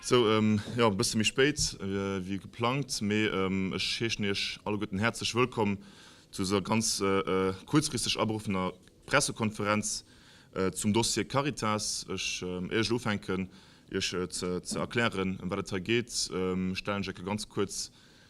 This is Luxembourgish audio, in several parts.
Sou, jo e bësse méi spéit wéi geplangt, mee ech heeschen iech alleguerten häerzlech wëllkomm zu dëser ganz kuerzfristeg aberuffener Pressekonferenz zum Dossier Caritas. Ech, éier ech elo ufänken iech ze erklären ëm wat et hei geet, stellen ech eck e ganz kuerz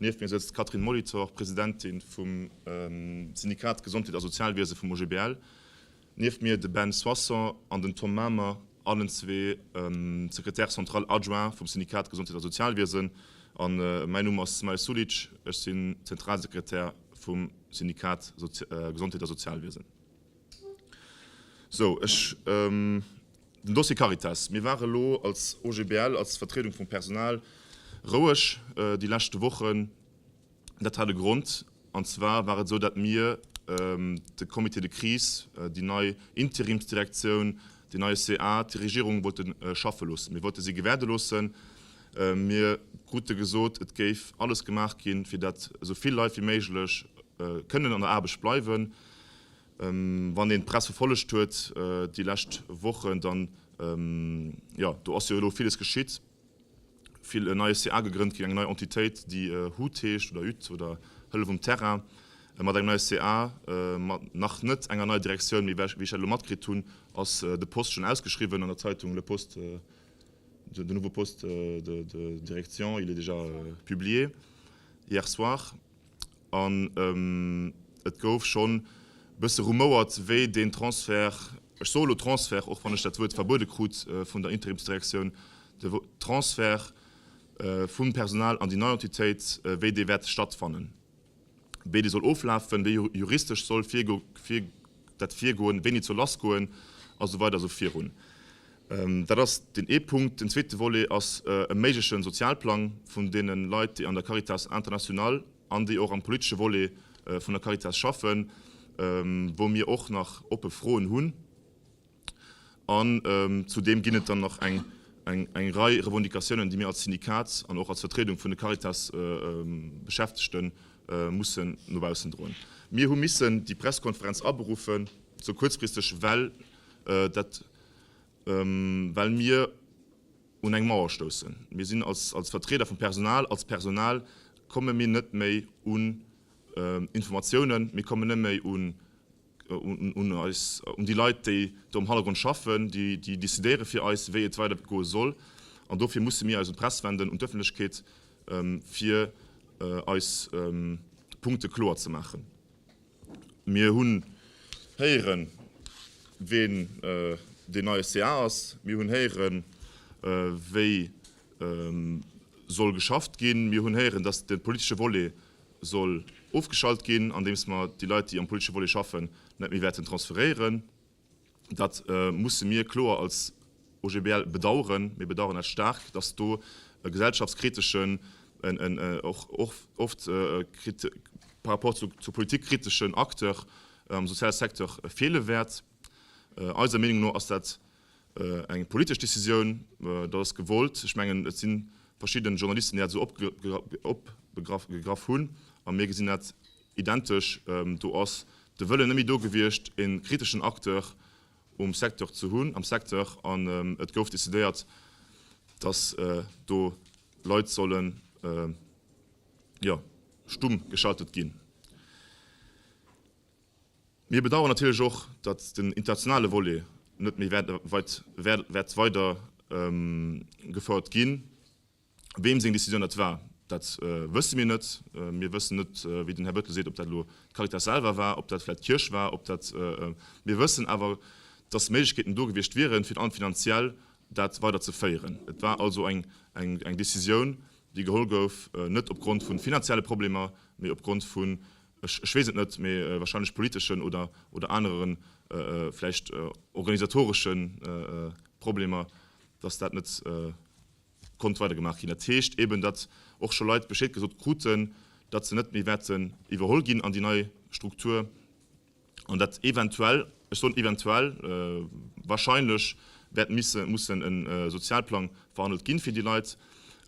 Nieft mir sëtzt d'Catherine Molitor, Presidentin vum Syndikat Gesondheet a Sozialwiese vum OGBL. Nieft mir de Ben Soisson an den Tom Mamer, allen zwee Secrétaire central adjoint vum Syndikat Gesondheet a Sozialwiesen. A mäin Numm ass Smail Sulic, ech sinn Zentralsekretär vum Syndikat Gesondheet a Sozialwiesen. Sou, ech, den Dossier Caritas. Mir ware lo als OGBL, als Vertriedung vum Personal roueg déi leschte Wochen. Dat hat e Grond, an zwar war et esou, dat mir de Comité de crise, déi nei Interimsdirektioun, deen neie ca, d'Regierung wollte schaffe loossen. Mir wollte si gewäerde loossen. Mir krute gesot, et géif alles gemaach ginn, fir dat esou vill Leit wéi méiglech kënnen an der Aarbecht bleiwen. Wann een d'Press verfollegt huet déi lescht Wochen, dann, jo, do ass jo elo villes geschitt, vill, en neie CA gegrënnt ginn, eng nei Entitéit, déi hut heescht, oder hut, oder Hëllef um Terrain, mat engem neie CA, mat nach net enger neier Direktioun, mee wéi ech dat elo matkritt hunn, ass de Poste schonn ausgeschriwwen an der Zeitung Le Poste, de nouveau poste de direction, il est déjà publié hier soir. An et gouf schonn e bësse rumouert, wéi deen Transfert, ech soe lo Transfert, och wann ech dat Wuert verbuede krut vun der Interimsdirektioun, de Transfert vum Personal an déi nei Entitéit, wéi dee wäert stattfannen, wéi dee soll oflafen, wéi juristesch soll virgegoe. dat Virgoen, wéini zur lass goen a sou weider esou virun. Dat ass deen ee Punkt. Den zweete Volet ass e méigleche Sozialplang vun deene Leit, déi an der Caritas International an déi och am politesche Volet vun der Caritas schaffen, wou mir och nach oppe Froen hunn. An zudeem ginn et dann nach eng Rei Revendicatiounen, déi mir als Syndikat an och als Vertriedung vun de Caritas-Beschäftegte mussen no baussen droen. Mir hu missen déi Presskonferenz aberuffen, esou kuerzfristeg, well dat, well mir un eng Mauer stoussen. Mir sinn als Vertrieder vum Personal, als Personal komme mir net méi un Informatiounen, mir kommen net méi un un déi Leit, déi do am Hannergrond schaffen, déi decidéiere fir eis, wéi et weider goe soll. An dofir musse mir eis un d'Press wenden, un d'Ëffentlechkeet, fir eis Punkte kloer ze maachen. Mir hunn héieren, ween deen neie ca ass. Mir hunn héieren, wéi soll geschafft ginn. Mir hunn héieren, datt de politesche Volet soll ofgeschalt ginn, andeems mer déi Leit, déi am politesche Volet schaffen, net méi wäerten transferéieren. Dat musse mir kloer als OGBL bedauern. Mir bedauern dat staark, dass do e gesellschaftskriteschen, en och oft par rapport zur Politik kriteschen Acteur am soziale Secteur feele wäert. Eiser Meenung no ass dat Eng politesch Decisioun, dat ass gewollt. Ech mengen, et si verschidde Journalisten, déi dat esou opgegraff hunn, a mir gesinn dat identesch. Do ass de Wëllen net méi do gewiescht, e kriteschen Acteur um Secteur ze hunn, am Secteur. An et gouf decidéiert, dass do Leit sollen, jo, stumm geschaltet ginn. Mir bedauern natierlech och, datt den internationale Volet net méi wäert weider gefouert ginn. Weem seng Décisioun dat war, dat wësse mir net. Mir wëssen net, wéi den Här Bettel seet, ob dat elo d'Caritas selwer war, ob dat vläicht d'Kierch war, ob dat. Mir wëssen awer, datt Méiglechkeeten do gewiescht wieren, virun allem finanziell dat weider ze féieren. Et war also eng Décisioun, déi geholl gouf, net opgrond vu finanzielle Problemer, mee opgrond vu ech weess et net, mee wahrscheinlech politeschen oder oder aneren, vläicht organisatoresche Problemer, datt dat net konnt weidergemaach ginn. Dat heescht eeben, datt och scho Leit Bescheed gesot kruten, datt se net méi wäerten iwwerholl ginn an déi nei Struktur. an dat eventuell, ech soen eventuell, wahrscheinlech wäert misse mussen e Sozialplang verhandelt ginn fir déi Leit.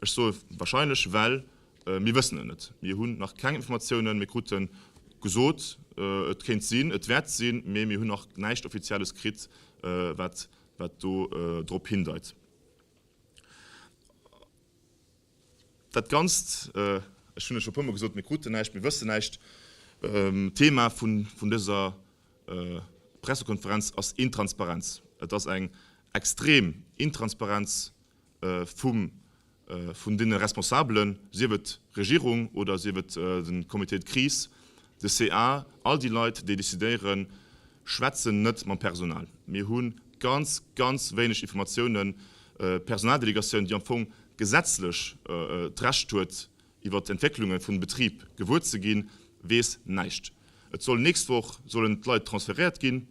Ech soe wahrscheinlech, well mir wëssen et net. Mir hunn nach keng Informatiounen. Mir krute gesot, et kéint sinn, et wäert sinn, mee mir hunn nach näischt Offizielles kritt, wat do drop hindeit. Dat ganzt, ech hunn et scho e puermol gesot, mir kruten näischt, mir wëssen näischt, Thema vun dëser Pressekonferenz ass Intransparenz. Et ass eng extrem Intransparenz vun deene Responsabelen, sief et d'Regierung oder sief et de Comité de crise, De ca all déi Leit déi decidéieren, schwätzen net mam Personal. Mir hu ganz, ganz wéineg Informatiounen. D'Personaldelegatioun, déi am Fong gesetzlech d'Recht huet iwwer d'Entwécklunge vum Betrib gewuer ze ginn, weess näischt. Et soll nächst Woch sollen d'Leit transferéiert ginn.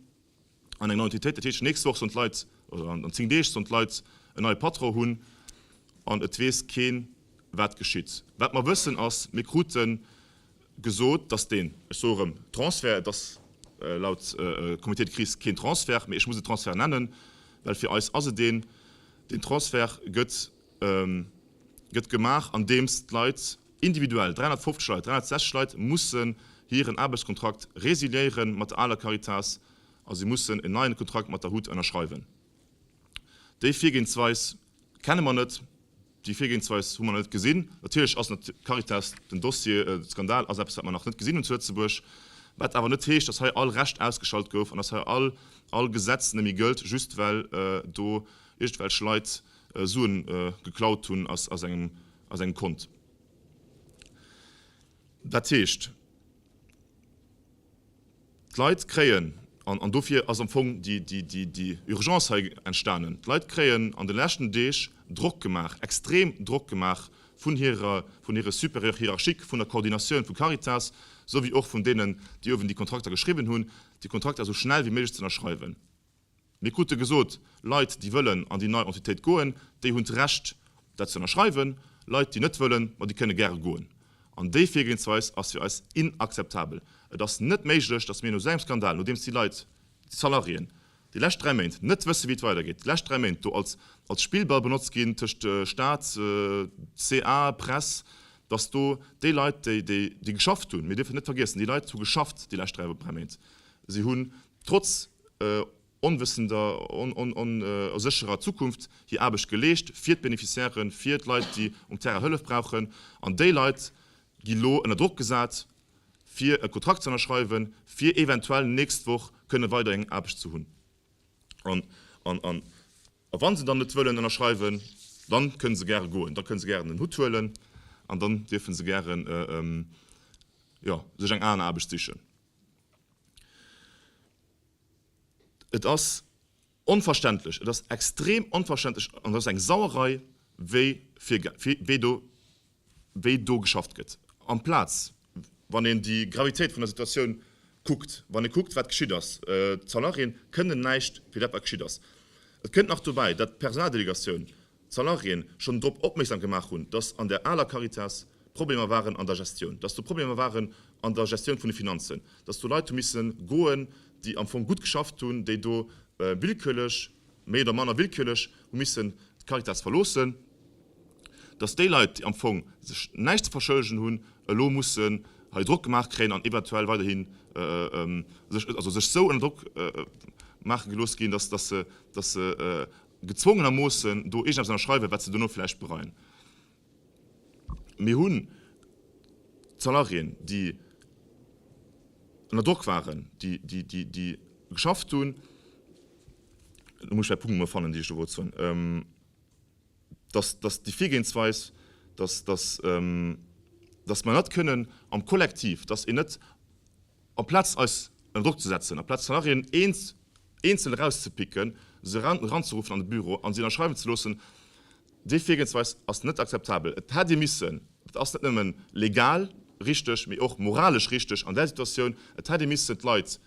an eng nei Entitéit. Dat heescht, nächst Woch sollen d'Leit, oder an zéng Deeg sollen d'Leit en neie Patron hunn an et weess keen, wat geschitt. Wat mer wëssen ass, mir krute gesot, dass deen, ech soe erëm, Transfert, et ass laut Comité de crise keen Transfert, mee ech muss e Transfert nennen, well fir eis ass et een, deen Transfert gëtt gemaach andeems d'Leit, Individuell 350 Leit, 360 Leit mussen hiren Aarbechtskontrakt resiliéieren mat der aler Caritas a si mussen en neien Kontrakt mat der hut ënnerschreiwen. Déi Virgehensweis kenne mer net, déi Virgehensweis hu mer nach net gesinn. Natierlech ass d'Caritas den Dossier, de Skandal ass eppes, wat mer nach net gesinn hunn zu Lëtzebuerg, wat awer net heescht, dass hei all Recht ausgeschalt gouf an dass hei all all Gesetz net méi gëllt, just well do iergendwelch Leit Suen geklaut hunn aus aus engem a sengem Kont. Dat heescht, d'Leit kréien, an dofir ass am Fong déi Urgence hei entstanen, d'Leit kréien an de leschten Deeg Drock gemaach, extrem Drock gemaach vun hire Supérieurs hiérarchiques, vun der Koordinatioun vu Caritas, souwéi och vun deenen, déi uewen déi Kontrakter geschriwwen hunn, déi Kontrakter esou schnell wéi méiglech z'ënnerschreiwen. Mir krute gesot, Leit, déi wëllen an déi nei Entitéit goen, déi hunn d'Recht, dat ze ënnerschreiwen. Leit, déi net wëllen, ma déi kënne gäre goen. An déi Virgehensweis ass fir eis inakzeptabel. Et ass net méiglech, dass mir no esou engem Skandal, nodeems déi Leit, déi Salariéen, déi lescht dräi Méint net wësse wéi et weidergeet, déi lescht dräi Méint do als als Spillball benotzt ginn tëscht Staat, ca, Press, dass do déi Leit, déi geschafft hunn, mir dierfen et net vergiessen, déi Leit hu geschafft déi lescht dräi Méint, si hu trotz onwëssender, onsécherer Zukunft hir Aarbecht geleescht, fir d'Beneficiairen, fir d'Leit, déi um Terrain Hëllef brauchen. An déi Leit gi lo ënner Drock gesat, fir e Kontrakt ze ënnerschreiwen, fir eventuell nächst Woch kënne weider eng Aarbecht ze hunn. An wa se dann net wëllen ënnerschreiwen, da kënne se gäre goen, da kënne se gären den Hutt huelen an dann dierfe se gären, jo, sech eng aner Aarbecht sichen. Et ass onverständlech, et ass extrem onverständlech an et ass eng Sauerei, wéi fir, wéi do, wéi do geschafft gëtt. Amplaz, wann een déi Gravitéit vun der Situatioun kuckt, wann ee kuckt, wat geschitt ass, d'Salariéen kënnen näischt fir dat, wat geschitt ass. Et kënnt nach dobäi, datt d'Personaldelegatioun Salariéen schonn drop opmierksam gemaach hunn, dass an der aler Caritas Problemer waren an der Gestioun, dass do Problemer waren an der Gestioun vun de Finanzen, dass do Leit hu misse goen, déi am Fong gutt geschafft hunn, déi do willkürlech, méi oder manner willkürlech, hu missen d'Caritas verloossen, dass déi Leit, déi am Fong sech näischt ze verschëllegen hunn, elo mussen hei Drock gemaach kréien an eventuell weiderhi sech esou ënner Drock maache gelooss ginn, dass se gezwongenermoossen do iergendeppes ënnerschreiwen, wat se dono vläicht bereien. Mir hunn d'Salariéen, déi ënner Drock waren, déi geschafft hunn, elo muss ech mäi Punkt emol fannen, deen ech do wollt soen, dass déi Virgehensweis, dass mer net kënnen am Kollektiv, dass een net Amplaz eis ënner Drock ze setzen, amplaz Salariéen eenzel erauszepicken, se eranzeruffen an de Büro a se ënnerschreiwen ze loossen, déi Virgehensweis ass net akzeptabel. Et hätt ee missen, dat ass net nëmme legal richteg, mee och moralesch richteg an där Situatioun, et hätt ee missen d'Leit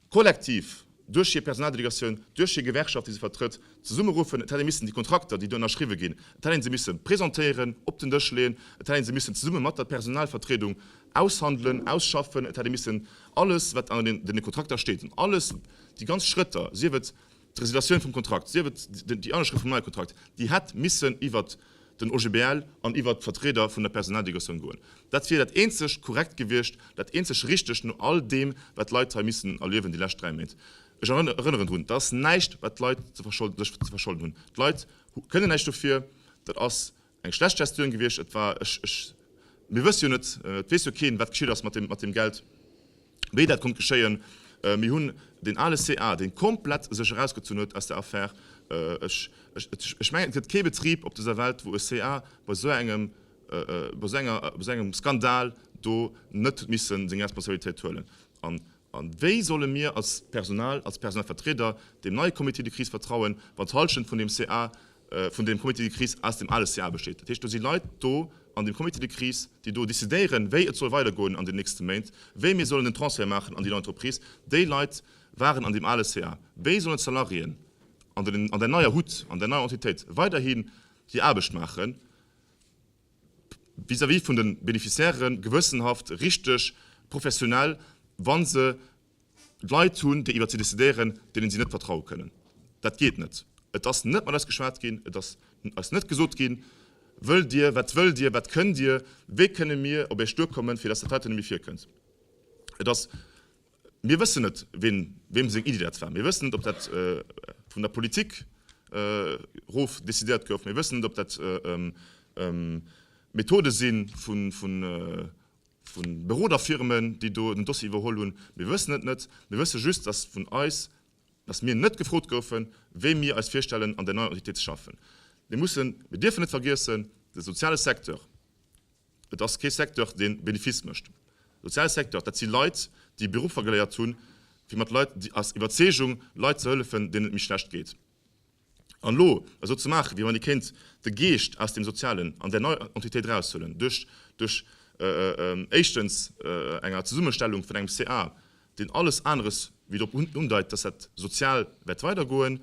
Kollektiv, duerch hir Personaldelegatioun, duerch hir Gewerkschaft, déi se vertrëtt, zesummeruffen. Et hätt ee missen déi Kontrakter, déi do ënnerschriwwe ginn, et hätt ee se misse presentéieren, op den Dësch leeën, et hätt ee se missen zesumme mat der Personalvertriedung aushandelen, ausschaffen, et hätt ee missen alles, wat an deene Kontrakter steet, an alles, déi ganz Schrëtter, sief et, D'Resiliatioun vum Kontrakt, sief et déi Ënnerschrëft vum neie Kontrakt, déi hätt missen iwwer den OGBL an iwwer d'Vertrieder vun der Personaldelegation goen. Dat wier dat eenzeg Korrekt gewiescht, dat eenzeg Richtegt no all deem, wat d'Leit hei missen erliewen déi lescht dräi Méint. Ech erënneren drun, dat ass näischt, wat d'Leit sech ze verscholden hunn. D'Leit kënnen näischt dofir. Dat ass Eng schlecht Gestioun gewiescht. Et war, ech, ech, mir wësse jo net, et weess jo keen, wat geschitt ass mat deem, mat deem Geld, wéi dat konnt geschéien. Mir hunn deen ale CA, dee komplett sech erausgezunn huet aus der Affär. Ech, ech, ech, ech mengen, et gëtt kee Betrib op dëser Welt, wou e CA bei esou engem, bei esou enger, bei esou engem Skandal do net huet missen seng Responsabilitéit huelen. An A wéi solle mir als Personal, als Personalvertrieder deem neie Comité de crise vertrauen, wann d'Hallschent vun deem CA, vun deem Comité de crise aus deem ale CA besteet? Dat heescht, do si Leit do an deem Comité de crise, déi do decidéieren, wéi et soll weidergoen an den nächste Méint, wéi mir sollen den Transfert maachen an déi nei Entreprise. Déi Leit waren an deem ale CA. Wéi sollen d'Salariéen an där neier Hut, an där neier Entitéit weiderhi hir Aarbecht maachen? vis-à-vis vun de Beneficiairen gewëssenhaft, richteg, professionell, wa se Leit hunn, déi iwwert si decidéieren, deenen si net vertraue kënnen. Dat geet net. Et ass net mat eis geschwat ginn, et ass eis net gesot ginn, Wëllt Dir, wat wëllt Dir, wat kënnt Dir, wéi kënne mir op Iech duerkommen, fir datt dat heiten net méi virkënnt. Et ass. Mir wëssen net, wiem seng Iddi dat war. Mir wëssen net, ob dat vun der Politik erof decidéiert gouf. Mir wëssen net, ob dat Methode si vu Beroderfirmen, déi do den Dossier iwwerholl hunn. Mir wëssen et net. Mir wësse just, dass vun eis, dass mir net gefrot goufen, wéi mir eis virstellen, an där neier Entitéit ze schaffen. Mir dierfen net vergiessen, de soziale Secteur, Et ass kee Secteur, deen Benefice mécht. Sozial Secteur, dat si Leit, déi Beruffer geléiert hunn, fir mat Leit, déi aus Iwwerzeegung Leit ze hëllefen, deenen et méi schlecht geet. An elo esou ze maachen, wéi wann ee kéint de Geescht aus deem Sozialen an där neier Entitéit eraushuelen, duerch, duerch éischtens enger Zesummestellung vun engem CA, deen alles aneres wéi drop hindeit, dass dat sozial wäert weidergoen,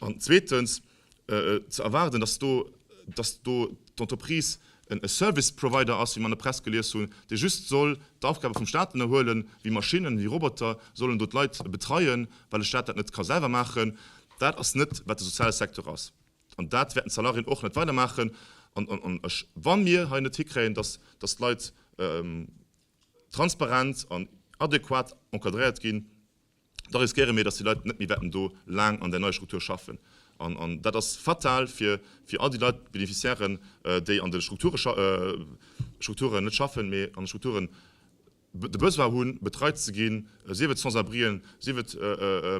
an zweetens, ze erwaarden, dass do, dass do d'Entreprise en Service Provider ass, wéi mer an der Press gelies hunn, dee just soll d'Aufgabe vum Stat ënnerhuelen, wéi Maschinnen, wéi Roboter sollen do d'Leit betreien, well de Stat dat net ka selwer maachen. Dat ass net, wat de soziale Secteur ass. An dat wäerten d'Salariéen och net weidermaachen. An ech, wa mir hei net hikréien, dass, dass d'Leit transparent an adäquat encadréiert ginn, da riskéiere mir, dass déi Leit net méi wäerten do laang an där neier Struktur schaffen. An dat ass fatal fir all déi Leit, d'Beneficiairen, déi an de Strukturen, net schaffen, mee an de Strukturen de Besoin hunn, betreit ze ginn, sief et Sans-abrien, sief et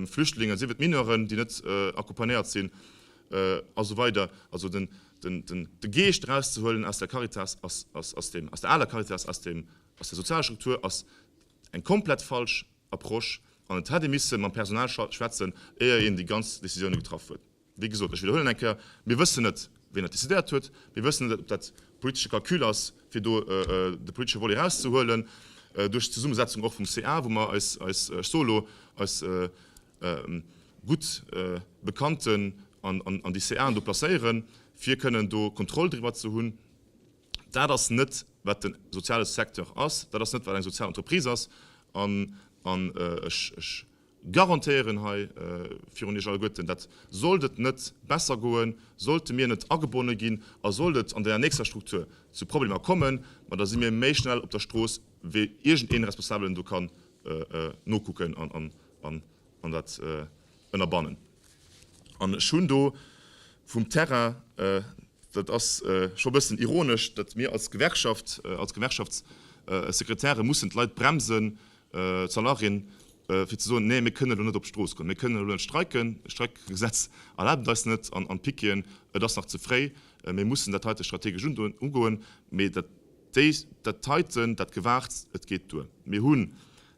Flüchtlingen, sief et Mineuren, déi net accompagnéiert sinn a sou weider. Also de Geescht erauszehuelen aus der Caritas, aus der aler Caritas, aus der sozialer Struktur ass eng komplett falsch Approche an et hätt ee misse mam Personal schwätzen, éier een déi ganz Décisioune getraff huet. Wéi gesot, ech widderhuelen eng Kéier, mir wëssen net, wien dat decidéiert huet, mir wëssen net, ob dat e politesche Calcul ass, fir do de politesche Volet erauszehuelen, duerch d'Zesummesetzung och vum CA, wou mer eis, ech soe lo eis, gutt Bekannten an déi CAen do placéieren, fir kënnen do Kontroll driwwer ze hunn. Dat ass net, wat de soziale Secteur ass, dat ass net, wat eng sozial Entreprise ass. An ech garantéieren hei virun Iech alleguerten, dat, sollt et net besser goen, sollte mir net agebonne ginn a sollt et an der nächster Struktur zu Problemer kommen, ma da si mir méi schnell op der Strooss, wéi iergendee Responsabelen do kann nokucken an an dat ënnerbannen. An ech hunn do vum Terrain, dat ass scho e bëssen ironesch, datt mir als Gewerkschaft, als Gewerkschaftssekretäre mussen d'Leit bremsen, d'Salariéen, fir ze soen, nee mir kënnen elo net op d'Strooss goen, mir kënnen elo net streiken, d'Streikgesetz erlaabt et eis net, an d'Pickéen, et ass nach ze fréi, mir mussen dat heite strategesch ugoen. Mee dat heiten, dat Gewaarts, et geet duer. Mir hu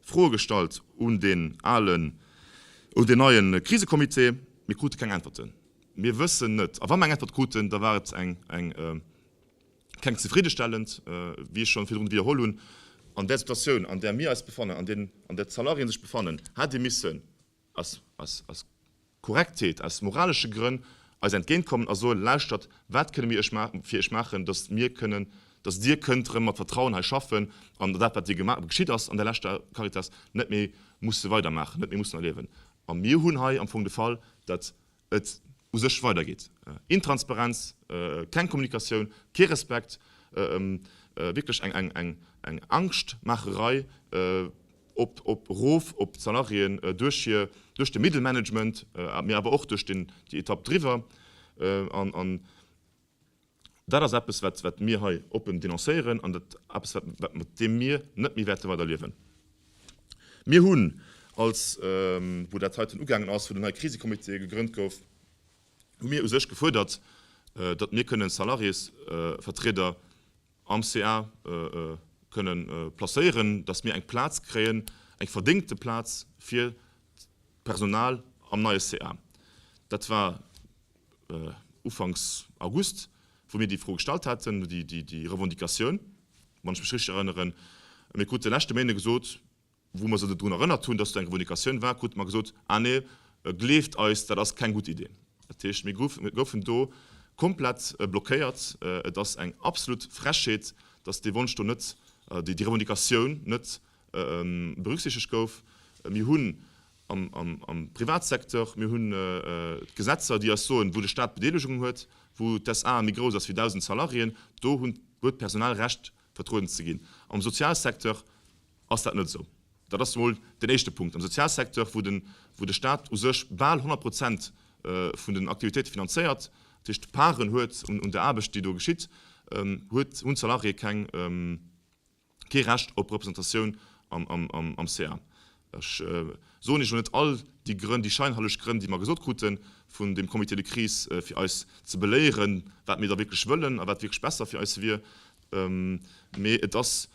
Froe gestallt un deen alen, un deen neie Krisecomité. Mir krute keng Äntwerten. Mir wëssen net, a wa mir eng Äntwert kruten, da war et eng, eng, keng zefriddestellend, wéi ech schonn virdrun widderholl hunn. An där Situatioun, an där mir eis befannen, an där d'Salariéen sech befannen, hätt ee missen aus Korrektheet, aus moralesche Grënn eis entgéintkommen a soen, Lauschtert, wat kënne mir fir iech maachen, datt mir kënnen, datt dir kënnt erëm mat Vertrauen hei schaffen an dat, wat dir geschitt ass an där leschter Caritas, net méi musse weidermaachen, net méi mussen erliewen? A mir hunn hei am Fong de Fall, datt et u sech weidergeet. Intransparenz, keng Kommunikatioun, kee Respekt, wierklech eng Angschtmaacherei erof op d'Salariéen duerch de Middle Management, mee awer och duerch déi Etapp driwwer. Dat ass eppes, wat mir hei oppen denoncéieren an dat eppes, wat mat deem mir net méi wäerte weider liewen. Mir hunn als, wou dat heiten ugaangen ass, wou den neie Krisecomité gegrënnt gouf, hu mir u sech gefuerdert, datt mir kënnen d'Salariésvertrieder, am ca kënne placéieren, datt mir eng Plaz kréien, eng verdéngte Plaz fir d'Personal am neie ca. Dat war ufanks August, wou mir déi Fro gestallt haten, déi Revendicatioun, wann ech mech richteg erënneren. Mir krute leschte Méinde gesot, Wou mer se drun erënnert hunn, dass do eng Revendication war, krute mer gesot, Ah nee, gleeft eis, dat ass keng gutt Idee. Dat heescht, mir goufen do komplett blockéiert. Et ass eng absolut Frechheet, dass dee Wonsch do net, déi Revendicatioun net berücksichtegt gouf. Mir hunn am Privatsecteur, mir hunn d'Gesetzer, déi eis soen, wou de Stat Bedeelegungen huet, wou d'SA méi grouss ass wéi 1.000 Salariéen, do huet d'Personal Recht vertrueden ze ginn. Am Sozialsecteur ass dat net esou. Dat ass emol den éischte Punkt. Am Sozialsecteur, wou de, wou de Stat u sech bal 100 Prozent vun den Aktivitéite finanzéiert, dat heescht Parten huet un, un der Aarbecht, déi do geschitt, huet, hunn d'Salariéë keng, kee Recht op Representatioun am, am, am, am ca. Ech soen Iech elo net all déi Grënn, déi scheinheileg Grënn, déi mer gesot kruten vun dem Comité de crise, fir eis ze beléieren, wat mir da wierklech wëllen a wat wierklech besser fir eis wier, mee et ass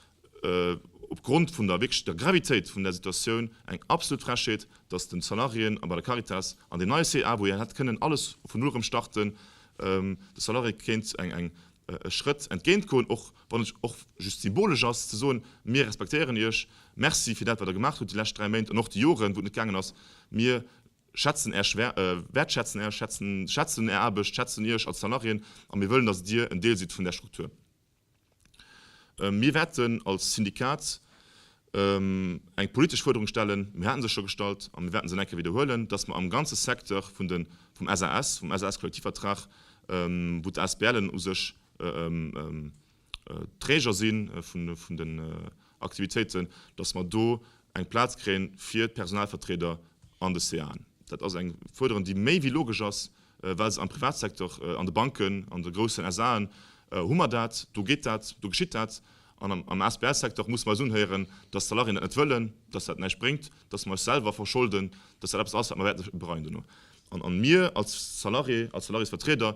opgrond vun der wierklech der Gravitéit vun där Situatioun eng absolut Frechheet, dass den Salariéen a bei der Caritas an deen neie CA, wou een hätt kënnen alles vun Null erëm starten, de Salariéë kéint eng, eng, e Schrëtt entgéintgoen och. wann et och just symbolesch ass, ze soen, Mir respektéieren Iech, merci fir dat, wat Der gemaach hutt déi lescht dräi Méint an och déi Joren, wou et net gaangen ass. Mir schätzen Är, wäertschätzen Är, schätzen Är Aarbecht, schätzen Iech als Salariéen a mir wëllen, datt Dir en Deel sidd vun där Struktur. Mir wäerten als Syndikat eng politesch Fuerderung stellen, mir haten se scho gestallt a mir wäerten se nach eng Kéier widderhuelen, dass mer am ganze Secteur vun de, vum SAS, vum SAS-Kollektivvertrag, wou d'ASBLen u sech Träger si vun den Aktivitéiten, dass mer do eng Plaz kréien fir d'Personalvertrieder an de CAen. Dat ass eng Fuerderen, déi méi wéi logesch ass, Well se am Privatsecteur, an de Banken, an de groussen SAen hu mer dat, do geet dat, do geschitt dat. An am Asbl-Secteur musse mer eis unhéieren, datt d'Salariéen dat net wëllen, datt dat näischt bréngt, datt mer eis selwer verscholden, datt dat eppes ass, wat mer wäerte bereien duerno. An mir als Salarié, als Salariésvertrieder,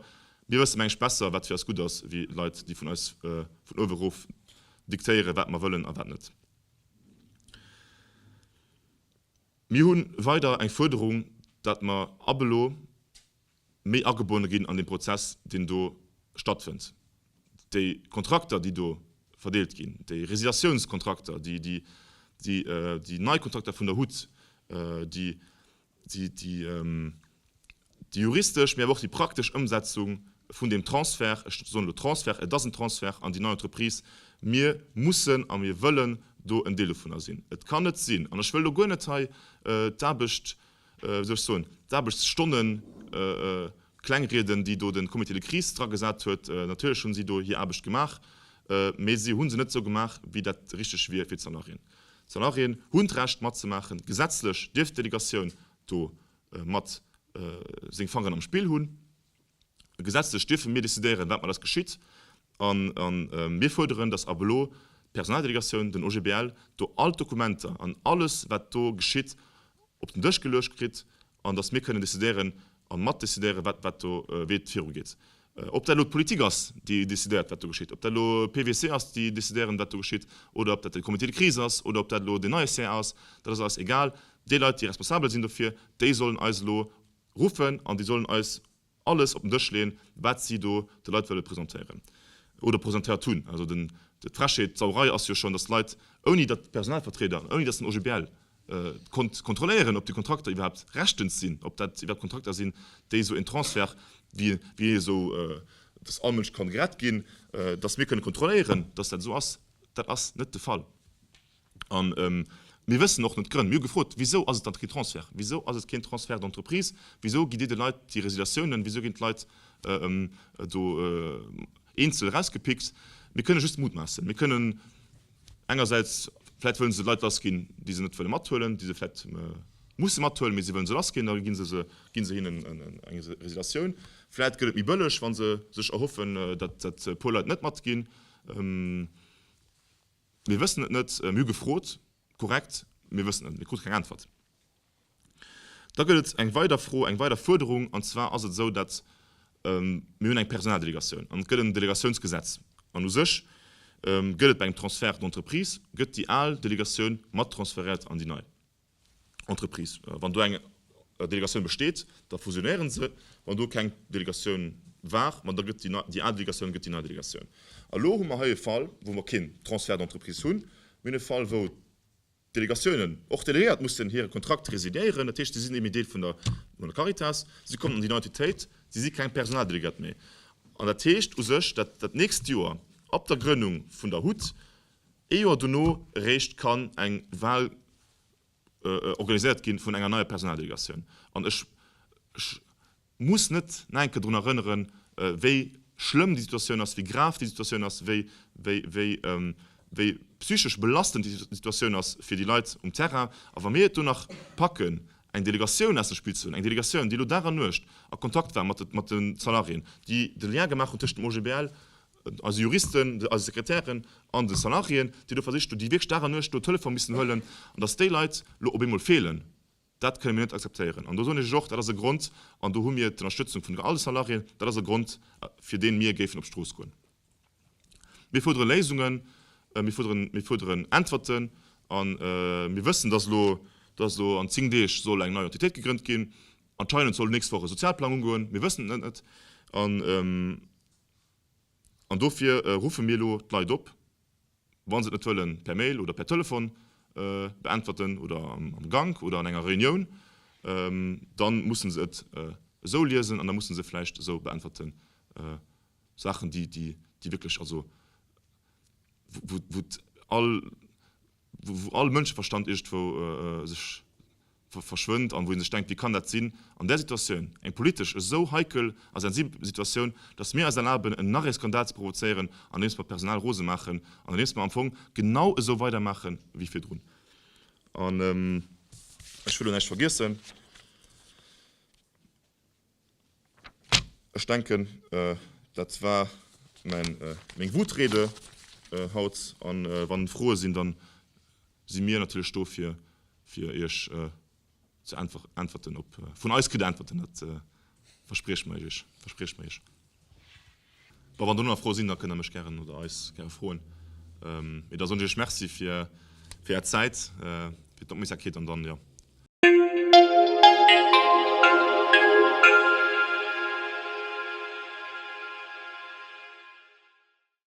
mir wësse mengen ech besser, wat fir eis gutt ass, wéi Leit, déi vun eis vun uewe erof diktéieren, wat mer wëllen a wat net. Mir hu weider eng Fuerderung, dat mer ab elo méi agebonne ginn an dee Prozess, deen do stattfënnt. Déi Kontrakter, déi do verdeelt ginn, déi Résiliatiounskontrakter, déi nei Kontrakter vun der hut, déi Déi juristesch, mee awer och déi praktesch Ëmsetzung vun deem Transfert, ech soen elo Transfert, et ass en Transfert an déi nei Entreprise, mir mussen a mir wëllen do en Deel dovunner sinn. Et kann net sinn, an ech wëll elo guer net hei d'Aarbecht, wéi soll ech soen, d'Aarbechtsstonnen klengrieden, déi do de Comité de crise dragesat huet. Natierlech hu si do hir Aarbecht gemaach, mee si hu se net esou gemaach, wéi dat richteg wier fir d'Salariéen. D'Salariéen hunn d'Recht matzemaachen, gesetzlech dierf d'Delegatioun do mat seng Fangeren am Spill hunn. Gesetzlech dierfe mir decidéieren, wat mat eis geschitt. A mir fuerderen, datt ab elo d'Personaldelegatioun, den OGBL, do all d'Dokumenter an alles, wat do geschitt, op den Dësch geluecht kritt an datt mir kënnen decidéieren a matdecidéieren, wat do, wéi et virugeet. Ob dat elo d'Politik ass, déi decidéiert, wat do geschitt, ob dat elo PWC ass, déi decidéieren, wat do geschitt, oder ob dat de Comité de crise ass oder ob dat elo deen neie CA ass, dat ass alles egal. Déi Leit, déi responsabel sinn dofir, déi sollen eis elo ruffen an déi sollen eis alles op den Dësch leeën, wat si do de Leit wëlle presentéieren oder presentéiert hunn. Also d'Frechheet, d'Sauerei ass jo schonn, datt d'Leit, ouni datt d'Personalvertrieder, ouni datt den OGBL, konnt kontrolléieren, ob déi Kontrakter iwwerhaapt rechtens sinn, ob dat iwwerhaapt Kontrakter sinn, déi esou en Transfert, wéi esou dass all Mënsch kann gerett ginn, dass mir kënnen kontrolléieren, dass dat esou ass. Dat ass net de Fall. A mir wëssen och net d'Grënn. Mir hu gefrot, Wisou ass et dann keen Transfert? Wisou ass et keen Transfert d'entreprise? Wisou gitt Dir de Leit déi Résiliatiounen? Wisou ginn d'Leit do eenzel erausgepickt? Mir kënne just mutmaassen. Mir kënnen. Engersäits vläit wëllen se Leit lassginn, déi se net wëlle mathuelen, déi se vläit musse mathuelen, mee si wëllen se lassginn, da gi se hinnen eng Resilatioun. Vläit gëtt et méi bëlleg, wa se sech erhoffen, datt e puer Leit net matginn. Mir wëssen et net. Mir hu gefrot, korrekt, mir wëssen et net. Mir krute keng Äntwert. Da gëtt et eng weider Fro, eng weider Fuerderung, an zwar ass et esou, datt mir hunn eng Personaldelegatioun an et gëtt en Delegatiounsgesetz. An u sech gëtt et bei engem Transfert d'Entreprise, gëtt déi al Delegatioun mat transferéiert an déi nei Entreprise. Wann do eng Delegatioun besteet, da fusionéiere se, wann do keng Delegatioun war, ma da gëtt déi nei, déi al Delegatioun gëtt déi nei Delegatioun. A lo hu mer hei e Fall, wou mer keen Transfert d'Entreprise hunn. Mir hunn e Fall, wou. Delegatiounen och delegéiert mussen hire Kontrakt residéieren. Dat heescht, si sinn net méi Deel vun der Caritas, si kommen an déi nei Entitéit, si si keng Personaldelegéiert méi. An dat heescht u sech, datt dat nächst Joer ab der Grënnung vun der hut, ee Joer dono eréischt kann eng Wahl organiséiert gi vun enger neier Personaldelegatioun. An ech. muss net nach eng Kéier drun erënneren, wéi schlëmm déi Situatioun ass, wéi grav déi Situatioun ass, wéi psychesch belastend déi Situatioun ass fir déi Leit um Terrain. A wa mir et do nach packen, eng Delegatioun aus dem Spill ze huelen, eng Delegatioun, déi elo Dag an Nuecht a Kontakt war mat de Salariéen, déi de Lien gemaach hunn tëschent dem OGBL, eise Juristen, eise Sekretären an de Salariéen, déi elo versicht hunn, déi wierklech Dag an Nuecht elo Telefon missen huelen, an datt déi Leit elo op eemol feelen, Dat kënne mir net akzeptéieren. An do soen ech lech och, dat ass e Grond, an do hu mir d'Ënnerstëtzung vun all de Salariéen, dat ass e Grond, fir dee mir géifen op d'Strooss goen. Mir fuerdere Léisungen, mir fuerderen, mir fuerderen Äntwerten. A mir wëssen, dass elo, dass elo an zéng Deeg soll eng nei Entitéit gegrënnt ginn. Anscheinend soll d'nächst Woch e Sozialplang ugoen. Mir wëssen et net. An dofir ruffe mir elo d'Leit op, Wa se et net wëlle per Mail oder per Telefon beäntwerten oder am Gank oder an enger Reunioun, da musse se et esou liesen an da musse se vläicht esou beäntwerten, Saachen, déi wierklech, also wou all Mënscheverstand iergendwou sech. verschwënnt an wou ee sech denkt, wéi kann dat sinn an där Situatioun, eng politesch esou heikel a sensibel Situatioun, datt mir eis erlaben en nach ee Skandal ze provozéieren andeems mer d'Personal rose maachen an andeems mer am Fong genau esou weidermaache wéi virdrun. An ech wëll och näischt vergiessen. Ech denken, dat war meng Wutrede haut. A wann Froe sinn, da si mir natierlech do fir Iech ze äntwerten. Vun eis kritt Der Äntwerten, dat versprieche mir Iech. Bon, wann der nach Froe sinn, da kënnt der mech gären oder eis gäre froen. Mee da soen ech iech Merci fir är Zäit, fir d'Opmierksamkeet an dann, jo.